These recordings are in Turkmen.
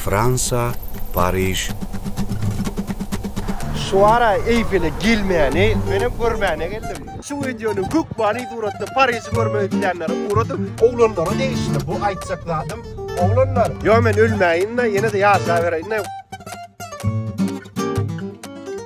Fransa, Pariž. Şu ara Eýfele gelmäni, menem görmäne geldim. Şu wideonyň köp many suratda Pariži görmek isleýänlere ugradyň. Oglanlara degişli bu aýtjak zadym. Oglanlar. Ýok men ölmäýin-de, ýene-de ýaşabereýin-de.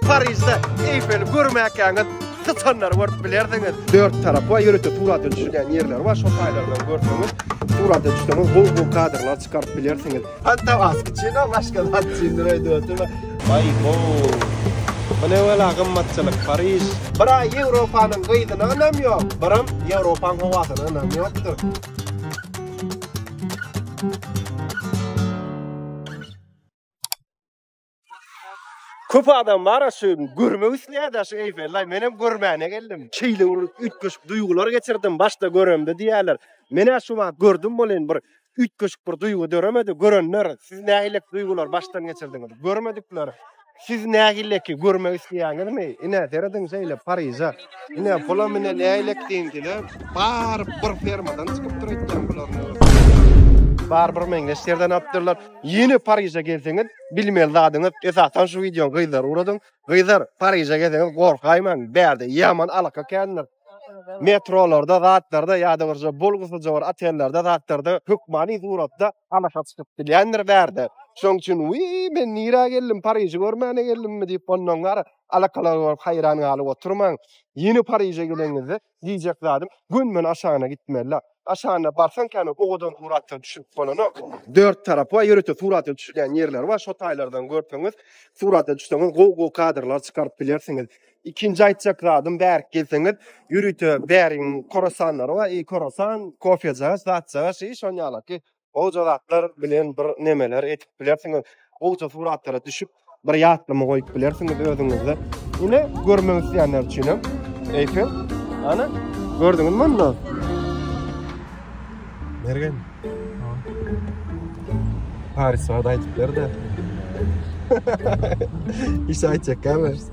Parižde Eýfeli görmäkäňiz syçanlary görüp bilersiňiz. Dört tarapy ýörite surata düşürýän ýerleri bar. Şol taýlardan görseňiz, surata düşseňiz gowy-gowy kadrlar çykaryp bilersiňiz. Hatta Askçina başga zat üçindir öýdüp oturma. Baý bo. Bu ne wela gymmatçylyk Pariž. Bra Ýewropanyň gyzyna ynam ýok, bram Ýewropaň howasyna ynam ýokdur. Köp adam bar şu görmek isleýär şu Eýfelli. Men hem görmäne geldim. Şeýle bir üýtgeşik duýgular geçirdim başda göremde diýýärler. Men hem şu wagt gördüm bolin bir üýtgeşik bir duýgy döremedi. Görenler siz nähili duýgular başdan geçirdiňiz? Görmedikler siz nähili ki görmek isleýäňizmi? Ine serediň şeýle Pariza. Ine pula mine nähili diýdiler. Bar bir fermadan çykyp durýan bular. Bar bir meňzeş ýerden apdyrlar. Ýene Pariže gelseňiz bilmeli zadyňyz esasan şu wideony gyzlara ugradyn. Gyzlar Pariže gelseňiz gorkaýmaň bärde ýaman alaka kändir. Metrolarda zatlarda ýa-da birje bolgusyja bir otellerde zatlarda hökmany suratda alaka çykyp bilýändir bärde. Şoň üçin wiý men nirä geldim Pariži görmäne geldimmi diýip ondan gara alakalar görüp haýran galyp oturmaň. Ýene Pariže geleniňizde Diýjek zadym, gönümen aşagyna gitmeli-la. Aşagyna barsaň kän, owadan suratlar düşürip bolanok. Dört tarapy bar, ýörite suratlar düşülýän ýerleri bar. Şo taýlardan görseňiz, suratlar düşseňiz, gowy-gowy kadrlar çykaryp bilersiňiz. Ikinji aýtjak zadym, bärik gelseňiz, ýörite bärigiň korasanlary bar, iý, korasan, kofejagaç, zatjagaç, iý, şonuň ýalaky. Goja zatlar bilen bir nemeler edip bilersiňiz. Goja suratlara düşüp, bir ýatlama goýup bilersiňiz özüňizde. Ine görmek isleýänler üçin hem Eýfel. Ana, gördüňizmi onda? Mergen. Paris barada aýdyp ber-de. Hiç aýtjak gelmez.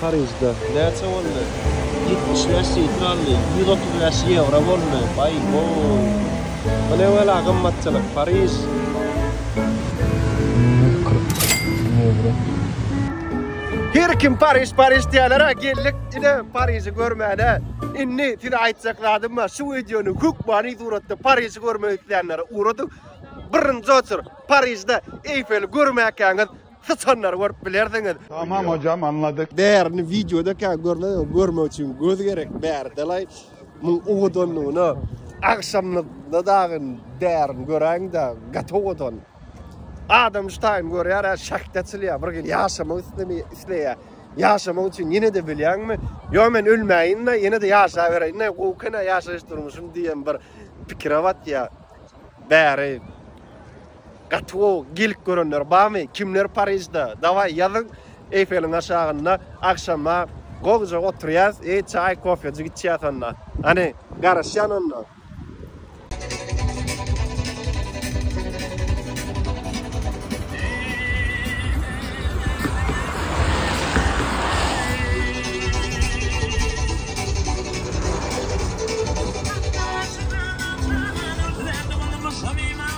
Parižde. Näçe boldy? Ýetmiş bäş sifr aldy. Ýüz otuz bäş ýewro boldy. Baý, gowy. Bu ne bela gymmatçylyk, Pariž. Ýüz kyrk ýewro. Her kim Pariž, Pariž diýýäler-ä, geldik ine Pariži görmäne. Indi size aýtjak zadym bar, şu wideony hökmany suratda Pariži görmek isleýänlere ugradyň. Birinji oçur, Parižde Eýfeli görmäkäňiz, Syçanlary görüp bilersiňiz. Tamam hocam anladyk. Bärini wideoda kä görmedim görmek üçin göz gerek bäridelaý muň owadanlygyna agşamlygyna dagy bärini göräýiňda gaty owadan adam şu taýyny görýär ä şahd açylýar bir gyz ýaşamak islemeýär isleýär ýaşamak üçin ýenede bilýäňmi ýok men ölmäýinda ýenede ýaşaberäýinda gowy kenä ýaşaýyş durmuşym diýen bir pikire batýar bäri. Gaty gowy gelip görenler bamy kimler Parižda daway ýazyň Eýfeliň aşagynda agşama gowja oturýas eý çaý kofejik içýas onda hany garaşýan onda.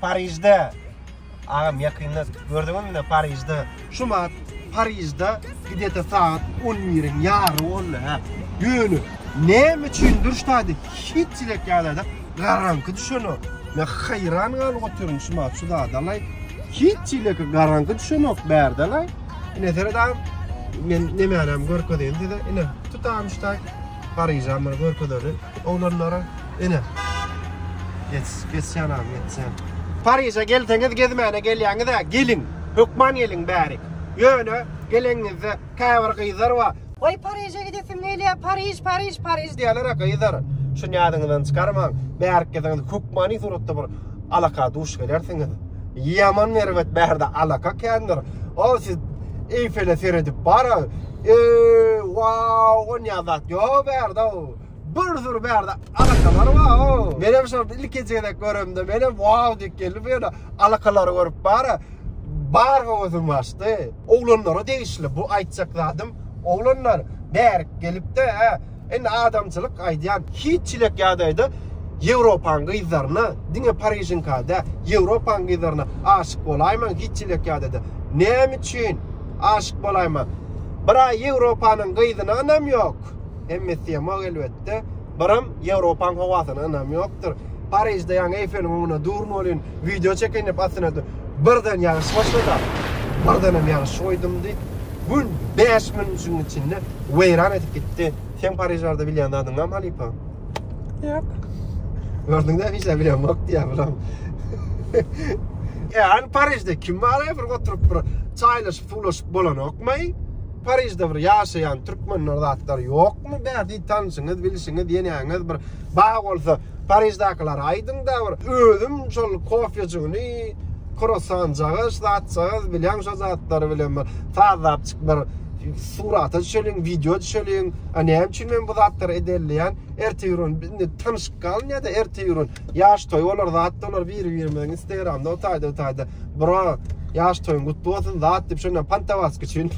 Parižde agam ýakynda gördüňizmi ne Parižde şu mat Parižde gidete saat 11-iň ýary boldy ha. Ýöne näme üçin durşady hiç çilek ýagdaýda garanky düşeni. Men haýran galyp otyryn şu mat şu zada lay. Hiç çilek garanky düşenok bärde lay. Ne seret agam men nemänem görkezeýin size. Ine tutam şuta Pariža men görkezeli oglanlara. Ene. Geç, geçýän agam, geçýän. Pariže gelseňiz gezmäne gelýäňizä geliň, hökman geliň bärik. Ýöne geleniňizde käbir gyzlar bar, Waý Pariže gidesim gelýä, Pariž, Pariž, Pariž diýerler-ä gyzlar. Şuny ýadyňyzdan çykarmaň. Bärik gelseňiz hökmany suratda bir alaka duş gelersiňiz. Ýaman erbet bärde alaka kändir. O siz Eýfele seredip bara, eý, wau, onýa zat ýok bärde-ow. Bir sürü bärde alakalary bar o. Menem şony ilkinji gezek göremde menem wow diýip geldim bu ýerde alakalary görüp bara bar höwesim gaçdy. Oglanlara degişli bu aýtjak zadym oglanlar bärik gelipde hä indi adamçylyk aýdýan hiç çilek ýadaýda ýewropanyň gyzlaryna diňe parižiňka dä ýewropanyň gyzlaryna aşyk bolaýmaň hiç çilek ýadaýda näme üçin aşyk bolaýmaň bir aý ýewropanyň gyzyny ynam ýok. Hemme syýamok elbetde. Biram Ýewropaň howasyna ynam ýokdur. Parižde ýaňy Eýfeliň öňünde durun welin, wideo çekeýin diýip astyna birden ýagyş başlady. Birdenem ýagyş goýdumdy. Gün bäş minütiň içinde weýran edip gitdi. Seň Pariž barada bilýän zadyň barmy halypa? Ýok. Gördüňdä hiç zat bilemok diýýär biram. Ýa, Parižde kim bar-aý bir oturyp bir çaýlaşyp-suwlaşyp bolanokmaý? Parižde bir ýaşaýan türkmenler zatlar ýokmy bähbit tanşyňyz bilşiňiz ýenäňiz bir bar bolsa Pariždakylara aýdyňda bir özüm şol kofejigini krosanjagaz zatjagaz bilýän şo zatlary bilen bir sazlapjyk bir surata düşeliň wideo düşeliň a näme üçin men bu zatlary edenleýän ertir indi tanyşyp galyn ýada ertir Ýaş toý bolar zat bolar biri birimiziň instagramda o taýda bu taýda bro ýaş toýuň gutly bolsun zat diýip şondan pantawas üçin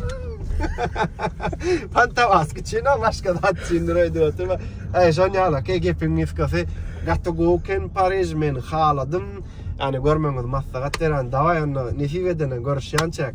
pantawas üçin o başga zat üçindir öýdüp oturma eý şon ýala ke gepiň niskasy gaty gowy ken pariž men haladym ýani görmegiňizi maslahat berýän daway onda nesip edene görüşýänçäk